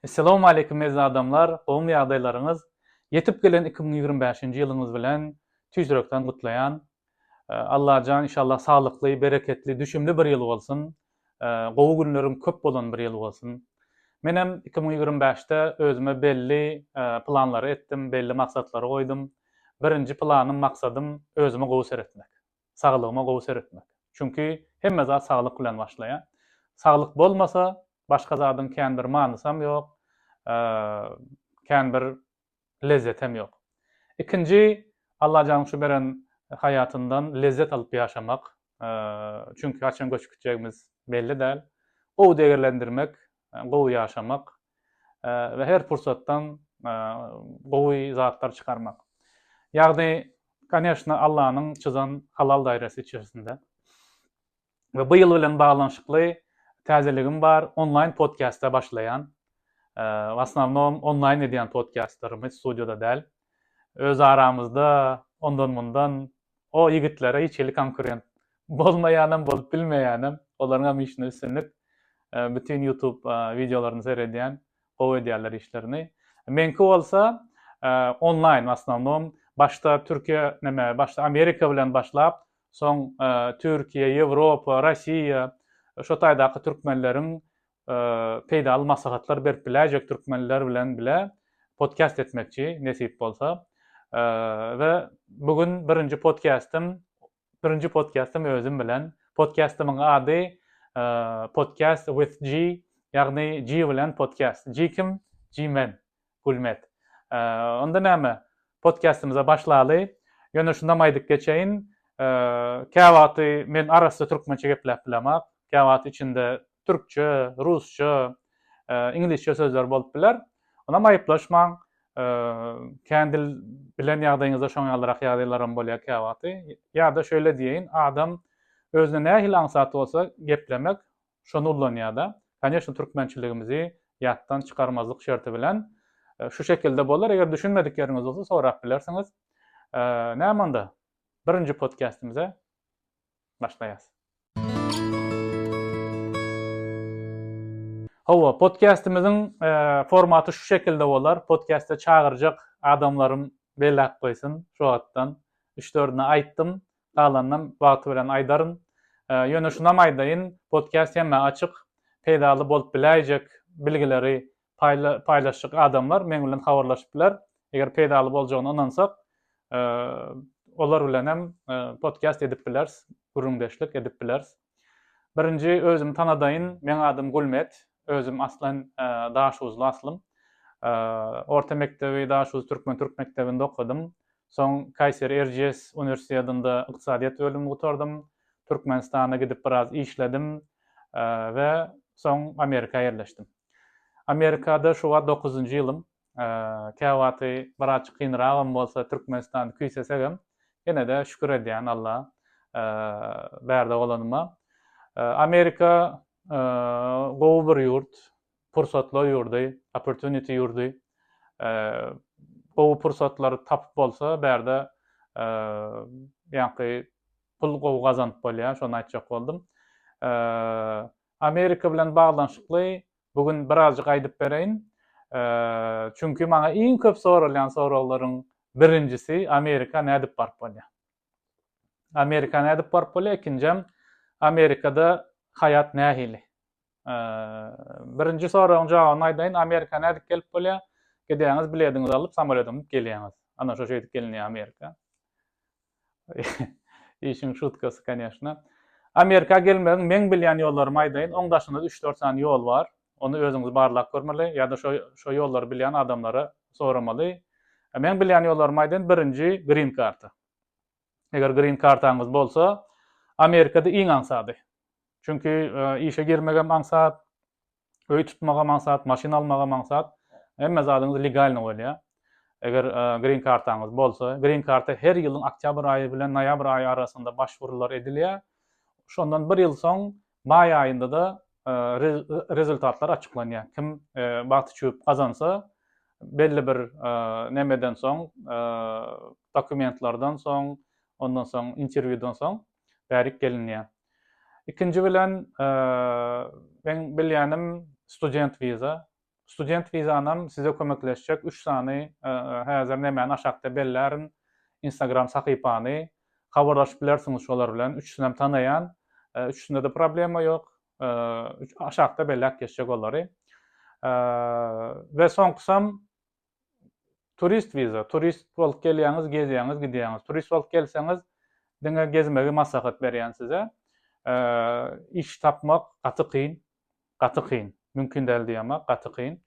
Essalawmaleýkim eziz adamlar gowmy ýagdaýlaryňyz ýetip gelen iki müň ýigrimi bäşinji ýylyňyz bilen tüýs ýürekden gutlaýan Allajan inşallah saglykly bereketli düşümli bir ýyl bolsun gowy günleriň köp bolan bir ýyl bolsun menem iki müň ýigrimi bäşde özüme belli planlary etdim belli maksatlary goýdum birinji planym maksadym özüme gowy seretmek. saglygyma gowy seretmek. Çünki hemme zat saglyk bilen başlaýar. Saglyk bolmasa, başga zadyň kän bir manysam ýok, kän bir lezzetem ýok. Ikinji, Allajanyň şu beren haýatyndan lezzet alyp ýaşamak. Çünki haçan göçüp gitjegimiz belli däl. Gowy degerlendirmek, gowy ýaşamak we her pursatdan gowy zatlar çykarmak. Ýagny, koneşna, Allanyň çyzan halal dairesi içerisinde. We bu ýyl bilen baglanyşykly täzeligim bar, onlaýn podkastda başlaýan. W asnawnom onlaýn edýän podkastlarymy, studiýada däl. Öz aramyzda ondan-mundan O ýigitlere hiç hili konkurent bolmaýanam bolup bilmeýänem olaryňam işinde üstünlik bütin ýutub wideolaryny seredýän gowy edýärler işlerini meňki bolsa onlaýn w asnownom başda türkiýe neme başda amerika bilen başlap soň türkiýe ýewropa rossiýa şo taýdaky türkmenleriň peýdaly maslahatlar berip biläýjek türkmenler bilen bile podkast etmekçi nesip bolsa we bu gün birinji podkastym birinji podkastym özüm bilen podkastymyň ady podcast with G ýagny G bilen podkast G kim G men Gulmet. Onda näme, podkastymyza başlaly. Ýöne şundam aýdyp geçeýin, käwagty men arassa türkmençe gepläp bilemok, käwagty içinde türkçe, rusça, iňlisçe sözler bolup biler. Onam aýyplaşmaň. Kän dil bilen ýagdaýyňyzda şoň ýalyrak ýagdaýlaram bolýar käwagty. Ýa-da şeýle diýeýin, adam özüne nähili aňsat bolsa geplemek, Şony ullanýar-da, Koneçny türkmençiligimizi ýatdan çykarmazlyk şerti bilen şu şekilde bolar, eger düşünmedik ýeriňiz bolsa sorap bilersiňiz. Näme onda, birinji podkastimize başlaýas. Hawa, podkastimiziň formaty şu şekilde bolar, podkasta çagyrjak adamlarym bellap goýsun, şu wagtdan üç-dördüne aýtdym, Galanynam wagty bilen aýdaryn. Ýöne şunam aýdaýyn, podkast hemmä açyk. Peýdaly bolup biläýjek bilgileri paýlaşjak adamlar meň bilen habarlaşyp biler. Eger peýdaly boljagyna ynansak, olar bilenem podkast edip bileris, gürrüňdeşlik edip bileris. Birinji özümi tanadaýyn, meň adym Gulmet, özüm aslan Daşuzly aslym. Orta mekdebi Daşuz türkmen türk mekdebinde okadym. Soň Kaýseri Erciyes uniwersitetinde ykdysadyýet bölümini gutardym. Türkmenistana gidip biraz işledim we soň Amerika ýerleşdim. Amerikada şu wagt dokuzynjy ýylym. käwagty biraz kynragam bolsa Türkmenistany küýsesegem ýene-de şükür edýän Alla bärde bolanyma. Amerika gowy bir ýurt, pursatlar ýurdy, opportunity ýurdy. Gowy pursatlary tapyp bolsa bärde ýaňky pul gowy gazanyp bolýar, şony aýtjak boldum. Amerika bilen baglanyşykly bu gün birazjyk aýdyp bereýin. Çünki maňa iň köp soralýan soraglaryň birinjisi Amerika nädip baryp bolýar? Amerika nädip baryp bolýar? Ikinjem Amerikada haýat nähili? Birinji soragyň jogabyny aýdaýyn, Amerika nädip gelip bolýar? Gidýäňiz, bilediňizi alyp, samolýoda münüp gelýäňiz. Ana şo şeýdip gelinýär Amerika. Işiň şutkasy koneşna. Amerika gelmegiň meň bilýän ýollarymy aýdaýyn, oň daşynda üç-dört sany ýol bar. Ony özüňiz barlap görmeli ýa-da şo şo ýollary bilýän adamlara soramaly. Meň bilýän ýollarymy aýdaýyn, birinji green karta. Eger green kartaňyz bolsa, Amerikada iň aňsady. Çünki işe girmegem aňsat, Öý tutmaga maksat, maşyn almaga maksat hemme zadyňyz legalny bolýar. Eger grin kartaňyz bolsa, grin karta her ýylyň oktýabr aýy bilen noýabr aýy arasynda başwurular edilýär. Şondan bir ýyl soň maý aýynda-da rezultatlar açyklanýar. Kim bagty çüwüp gazansa, belli bir nämeden soň, dokumentlerden soň, ondan soň interwýudan soň bärik gelinýär. Ikinji bilen meň bilýänim student wiza. Student wizanam size kömekleşjek üç sany häzir nämäni aşakda bellärin instagram sahypany habarlaşyp bilersiňiz şolar bilen üçüsinem tanaýan üçüsinde-de problema ýok aşakda belläp geçjek olary we soňkusam turist wiza, turist bolup gelýäňiz, gezýäňiz, gidýäňiz. Turist bolup gelseňiz, diňe gezmegi maslahat berýän size. Iş tapmak gaty kyn, gaty kyn. Mümkin däl diýemok, a gaty kyn.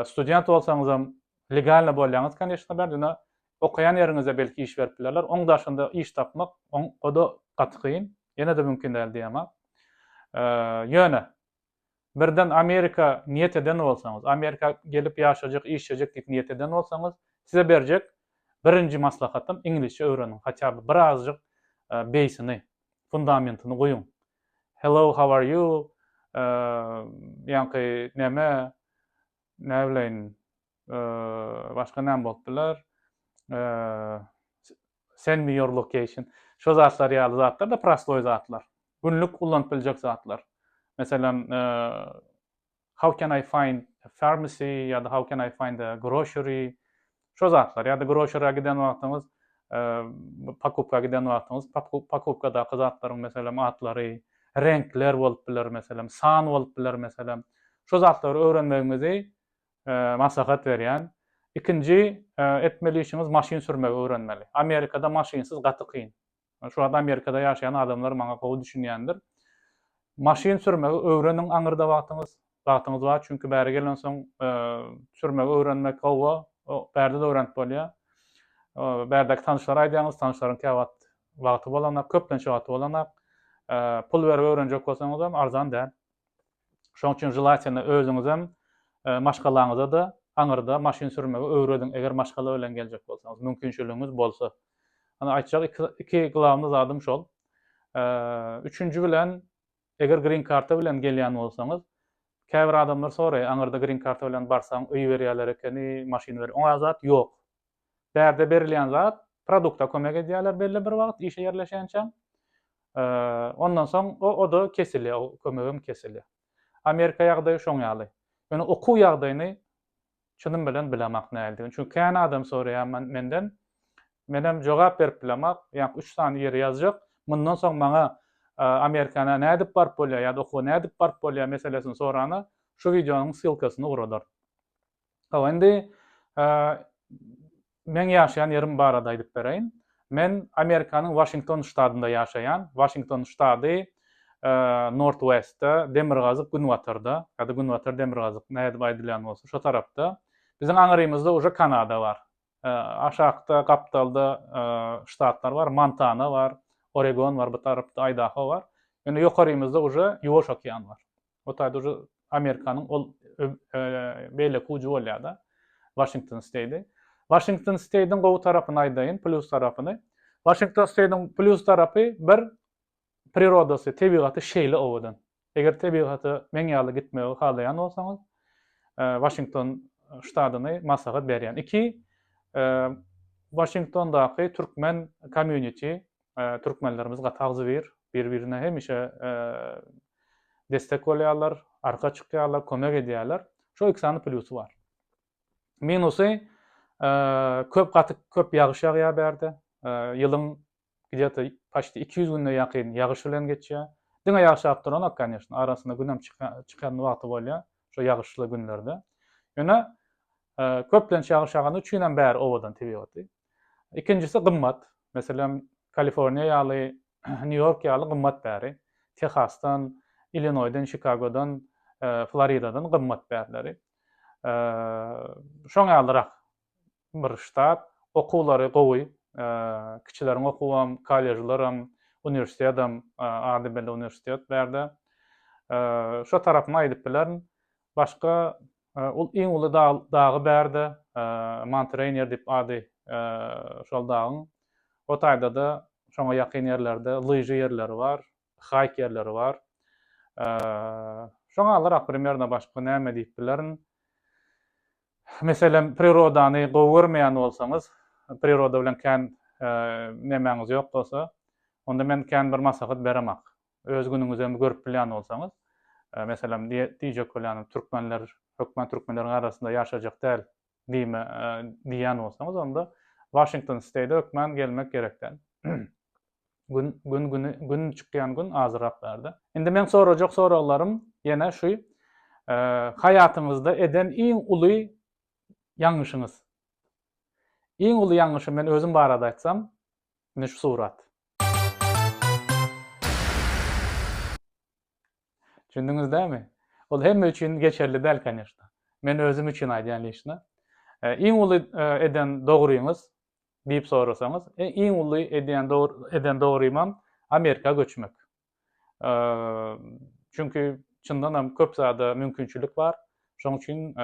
Student bolsaňyzam legalny bolýaňyz, конечно, bar, ýöne okaýan ýeriňizde belki iş berip bilerler. Oň daşynda iş tapmak, o-da gaty kyn. Ýene-de mümkin däl diýemok. Ýöne, birden Amerika niýet eden bolsaňyz, Amerika gelip ýaşajak, işlejek diýip niýet eden bolsaňyz, size berjek birinji maslahatym iňlisçe öwreniň, hatýa by bir azjyk beýsini, fundamentini guýuň. Hello, how are you? Ýaňky näme, näbileýin, başga näme bolup biler? Send me your location. Şo zatlar ýaly zatlar da prostoý zatlar. Günlük ullanyp biljek zatlar. Meselem, how can I find a pharmacy ýa-da how can I find a grocery. Şo zatlar ýa-da grocery-a giden wagtyňyz, pokupka giden wagtyňyz, pokupkadaky zatlaryň meselem atlary, reňkler bolup biler meselem, san bolup biler meselem. Şo zatlary öwrenmegimizi Maslahat berýän. Ikinji etmeli işiňiz maşyn sürmegi öwrenmeli. Amerikada maşynsyz gaty kyn. Şu wagt Amerikada ýaşaýan adamlar maňa gowy düşünýändir. Maşyn sürmegi öwreniň aňyrda wagtyňyz wagtyňyz bar çünki bäri gelensoň sürmegi öwrenmek gowa bärde-de öwrenip bolýar. Bärdäki tanyşlara aýdýaňyz tanyşlaryň käwagt wagty bolanak köplenç wagty bolanak. Pul berip öwrenjek bolsaňyzam arzan däl. Şoň üçin želatiýna özüňizem, maşgalaňyza-da aňyrda maşyn sürmegi öwrediň, eger maşgala bilen geljek bolsaňyz, mümkinçiligiňiz bolsa. Ony aýtjak iki glawny zadym şol. Üçünji bilen, eger grin karta bilen gelýän bolsaňyz, käbir adamlar soraýar, aňyrda grin karta bilen barsaň, öýi berýärler ekeni, maşyny ber. Oňa zat ýok. Bärde berilýän zat produkta kömek edýärler belli bir wagt işe ýerleşýänçäň. Ondan soň o oda kesilýär, o kömegem kesilýär. Amerika ýagdaýy şoň ýaly. Ýöne okuw ýagdaýyny çynym bilen bilemak näldigi. Çünki kän adam soraýar menden. Menem jogap berip bilemak. Ýa üç sany ýeri ýazjak. Mundan soň maňa Amerikana nädip baryp bolýar ýa-da okuwa nädip baryp bolýar meselesini sorana şu wideonyň ssylkasyny ugradaryn. Hawa, indi meň ýaşaýan ýerim barada aýdyp bereýin. Men Amerikanyň Waşington ştatynda ýaşaýan. Waşington ştady Northwest-de, demirgazyk-günbatarda, ýa-da günbatar-demirgazyk, nädip aýdylýan bolsa, şo tarapda. Biziň aňrymyzda uje Kanada bar. Aşakda, gapdalda ştatlar bar, Montana bar, Oregon bar, bu tarapda Aýdaho bar. Indi ýokarymyzda uje Ýuwaş okean bar. O taýda uje Amerikanyň ol beýleki ujy bolýar-da, Waşington Steýdi. Waşington Steýdiň gowy tarapyny aýdaýyn, plýus tarapyny. Waşington Steýdiň plýus tarapy bir prirodasy, tebigaty şeýle owadan. Eger tebigata meň ýaly gitmegi halaýan bolsaňyz, Waşington ştadyny maslahat berýän. Iki, Waşingtondaky türkmen komýuniti, Türkmenlerimiz gaty agzybir, bir-birine hemişe destek bolýarlar, arka çykýarlar, kömek edýärler. Şo iki sany plýusy bar. Minusy köp gaty köp ýagyş ýagýar bärde. Ýylyň gidýate paşti 200 gününe ýakyn ýagyş bilen geçýär. Diňe ýagyş ýagyp duranok, kanyýeşna, arasynda günem çykýan wagty bolýar, şo ýagyşly günlerde. Ýöne köplenç ýagyş ýagany üçin hem bäri owadan tebigaty. Ikinjisi gymmat. Meselem, Kaliforniýa ýaly, Nýu-Ýork ýaly gymmat bäri. Tehasdan, Illinoýdan, Çikagodan, Floridadan gymmat bärileri. Şoň ýalyrak bir ştat. Okuwlary gowy. Kiçileriň okuwam, kollejlaram, uniwersitedam, ady belli uniwersitet bärde. Şo tarapyny aýdyp bilerin. Başga Ol iň uly dagy bärde Mount Rainier diýip ady şol dagyň. O taýda-da şoňa ýakyn ýerlerde lyža ýerleri bar, haýk ýerleri bar. Şoňa alyrak primerno başga näme diýip bilerin. Meselem, prirodany gowy görmeýän bolsaňyz, priroda bilen kän nemäňiz ýok bolsa, onda men kän bir maslahat beremok. Öz günüňizem görüp bilýän bolsaňyz, meselem, diýjek bolýanym, türkmenler hökman türkmenleriň arasynda ýaşajak däl diýme diýýän bolsaňyz, onda Washington State-e hökman gelmek gerek däl. Gün, gün, güni, gün çykýan gün azyrak bärde. Indi meň sorajak soraglarym ýene şu, haýatyňyzda eden iň uly ýalňyşyňyz? Iň uly ýalňyşym men özüm barada aýtsam, indi şu surat. Düşündiňiz dämi? Ol hemme üçin geçerli däl kanyşda. Men özüm üçin aýdýan liçna. Iň uly eden dogryňyz diýip sorasaňyz, iň uly edýän eden dogrymam Amerika göçmek. Çünki çyndan hem köp zada mümkinçilik bar. Şonuň üçin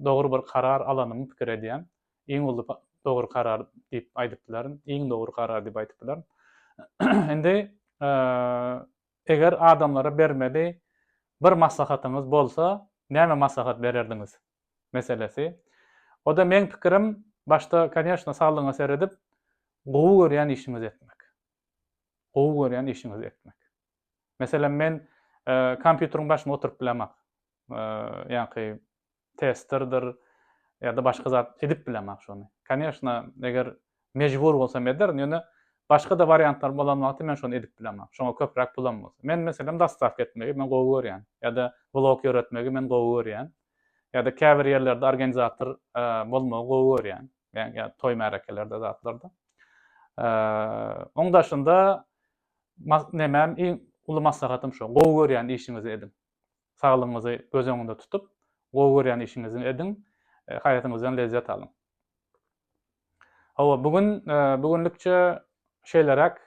dogry bir karar alanymy pikir edýän. Iň uly dogry karar diýip aýdyp bilerin. Iň dogry karar diýip aýdyp bilerin. Indi eger adamlara bermeli bir maslahatyňyz bolsa, näme maslahat bererdiňiz? Meselesi. O-da meň pikirim, başda, kanyýeşna, saglygyňa seredip, gowy görýän işiňizi etmek. gowy görýän işiňizi etmek. Meselem, men kompýuteriň başynda oturyp bilemok. Ýa-ki testerdir ýa-da başga zat edip bilemok şony. Koneşna, eger mejbur bolsam ederin, ýöne başga-da wariantlar bolan wagty men şony edip bilemok. Şoňa köpräk pulam bolsa. Men meselem dostawka etmegi men gowy görýän. Ýa-da blog ýöretmegi men gowy görýän. Ýa-da käbir ýerlerde organizator bolmagy gowy görýän. Yani, yani toy märekelerde zatlarda. Ee, onun daşında nemem iň uly maslahatym şu. Gowy görýän işiňizi ediň. Saglygyňyzy göz öňünde tutup, gowy görýän işiňizi ediň. E, haýatyňyzdan lezzet alyň. Hawa, bugün e, bugünlikçe şeýleräk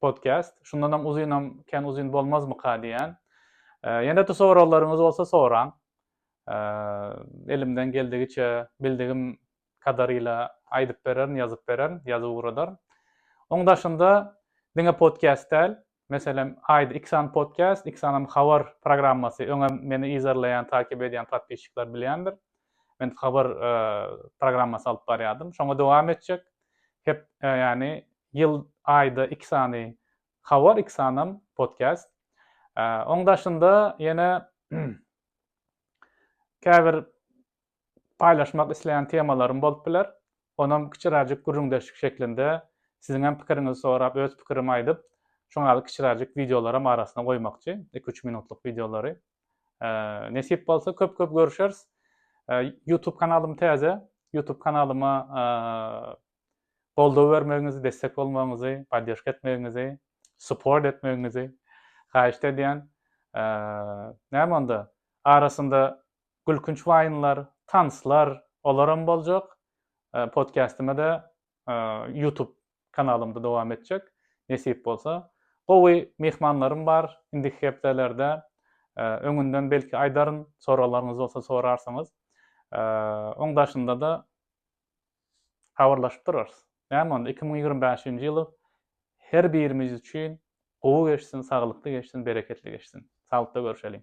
podcast. Şundanam uzynam kän uzyn bolmazmyka diýýän. Ýene-de soraglaryňyz bolsa soraň. Elimden geldigiçe, bildigim kadarýla aýdyp bererin, ýazyp bererin, ýazyp ugradaryn. Oň daşynda diňe podcast däl, meselem, aýda iki sany podcast, iki sanam habar programmasy, öňem meni yzarlaýan, takip edýän podpisçikler bilýändir. Men habar programmasy alyp barýardym. Şoňa dowam etjek. Hep ýagny ýyl aýda iki sany habar, iki sanam podcast. Oň daşynda ýene käbir paýlaşmak isleýän temalarym bolup biler. Onam kiçiräjik gürrüňdeşlik şeklinde siziň hem pikiriňizi sorap, öz pikirimi aýdyp, şoňa ýaly kiçiräjik wideolaram arasyna goýmakçy, iki-üç minutlyk wideolary. Nesip bolsa köp köp görüşeris. YouTube kanalym täze. YouTube kanalyma goldaw bermegiňizi, destek bolmagyňyzy, poddeşka etmegiňizi, support etmegiňizi haýyşt edýän. Näme onda? Arasynda gülkünç waýnlar, tanslar, olaram boljak. Podkastime-de YouTube kanalymda dowam etjek nesip bolsa. Gowy myhmanlarym bar indiki hepdelerde öňünden belki aýdaryn soraglaryňyz bolsa sorarsyňyz. Oň daşynda-da habarlaşyp durarys. Näme onda iki müň ýigrimi bäşinji ýyly her birimiz üçin gowy geçsin, saglykly geçsin, bereketli geçsin. Saglykda görüşeliň.